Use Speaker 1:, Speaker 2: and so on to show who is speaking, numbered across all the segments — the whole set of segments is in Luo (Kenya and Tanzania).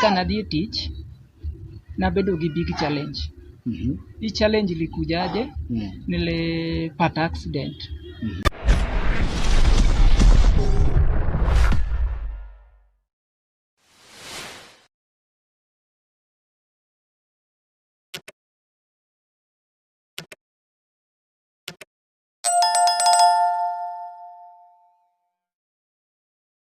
Speaker 1: Ka nadhi e tich, nabedo gi big challenge. Mhm. Hii challenge ilikujaje? Mm. Nilipata accident.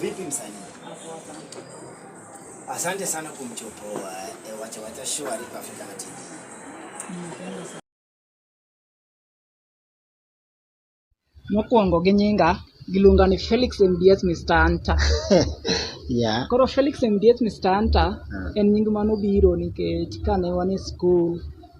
Speaker 1: Vipi msanii? Asante sana kumchopoa e, eh, wacha wacha show alipo Afrika na TV. Mokwongo gi nyinga giluonga ni Felix MDS Mr. Anta. yeah. Koro Felix MDS Mr. Anta uh. en nying mano biro nikech kane wan e school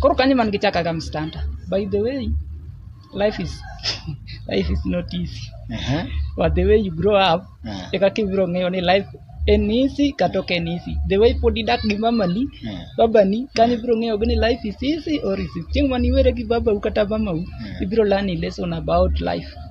Speaker 1: koro kanyo man gichakaga mstanda by the way life is life is not easy Aha. but the way you grow up Ah. eka kibiro ng'eyo ni life en easy kata ok en easy the way pod idak gi mamani Ah. babani kanyo ibiro ng'eyo ni life is easy or is it chieng' mane iwere gi babau kata mamau ibiro learn a lesson about life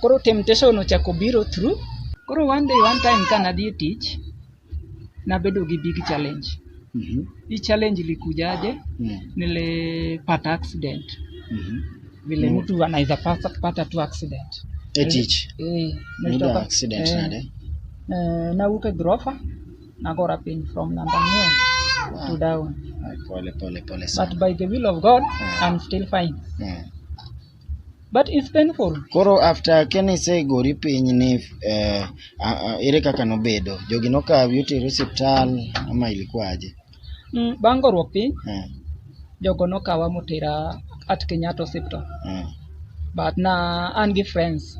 Speaker 1: Koro temptation ochako biro through. Koro one day one time ka nadhi e tich, nabedo gi big challenge. Mhm. Hii challenge ilikujaje? Mm. Nilipata accident. Mhm. Vile Mm. mtu anaweza pata, pata tu accident. E tich. Eh, Nida nilitoka- accident eh, nade? eh, nawuok e grofa nagora piny from number ang'wen to down Ay, Pole pole pole but sana. by the will of god Ah. i'm still fine Mm. but it's painful koro after keni se gori piny ni eh, a- a- ere kaka nobedo jogi nokawi otero osiptal ama ilikuwaje mm, bang' goruok piny eh, jogo nokawa motera at kenyatta hospital eh. but na an gi friends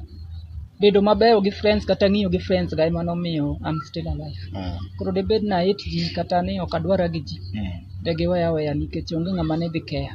Speaker 1: bedo mabeyo gi friends kata ng'iyo gi friends ga ema nomiyo am still alive Ah, koro debed na it ji kata ni ok adwara gi ji mm. de giweya weya nikech onge ng'ama ne dhi keya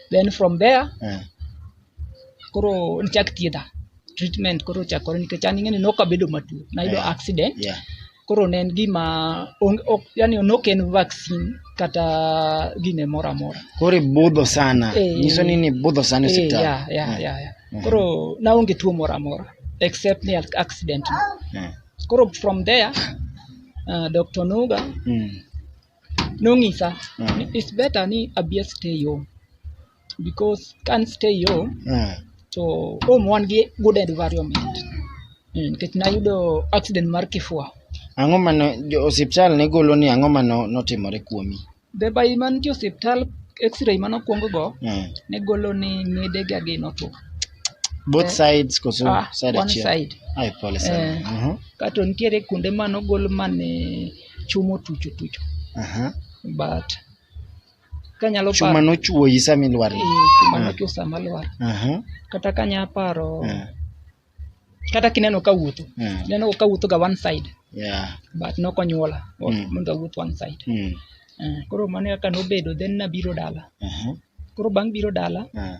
Speaker 1: then from there Eh. koro nichak thiedha treatment koro ochakore nikech an ing'eni nokabedo matuo nayudo Yeah. accident Yeah. koro ne en gima onge- ok- yani nok en vaccine kata gine moro amora Koro ibudho sana. Eh. Nyiso ni ni ibudho sana Eh, osiptal. yeah, yeah, Eh. yeah, yeah. Mhm. koro naonge tuo moro amora except ni ac- accident no. Eh. koro from there uh, dr nuga Mm. nong'isa Mm. ni it's better ni abia stay home because can stay home Mm. to home wan gi good environment Mm, nikech nayudo accident mar kifua Ang'o ma no- jo osiptal ne golo ni ang'o ma no- notimore kuomi? bebai mantie osiptal x-ray manokwong go Mm. ne golo ni ng'edega gi notuo Both Eh. sides koso Ah, side one achiel? side. Ai, pole sana. Eh. Mhm. kato nitiere kuonde manogol mane chuma otucho tucho Aha. but kanyalo paro- Chuma nochuoyi sama ilwar. Eh, chuma Ah. nochuo sama lwar Aha. kata kanya paro Ah. kata kineno ka wuotho Ah. ineno ka wuotho ga one side Yeah. but nokonyuola Mm. mondo awuoth one side Mm. Eh, koro mano kaka nobedo then nabiro dala Aha. koro bang' biro dala Ah.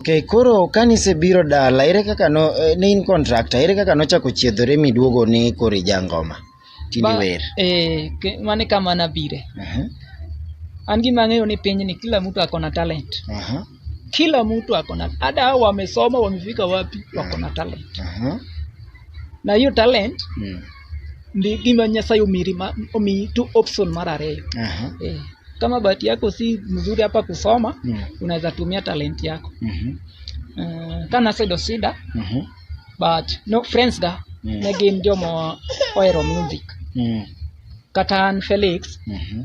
Speaker 1: Okay, koro kane isebiro dala ere kaka no eh, ne in contractor ere kaka nochako chiedhore miduogo ni koro ija ngoma tini Ba- wer eh, ke- mane kama nabire Aha, an gima ang'eyo ni piny ni kila mtu ako na talent aha, kila mtu ako na hata hao wamesoma wamefika wapi wako na talent aha. na hiyo talent Mm. ndi gima nyasaye omiri ma- omiyi tu option mar ariyo Aha. eh, kama bahati yako si mzuri hapa kusoma Mm. unaweza tumia talent yako Mhm. uh, kana sedo sida Mhm. but no friends ga Mm. ne gin jomo ohero music Mm. kata an felix Mhm.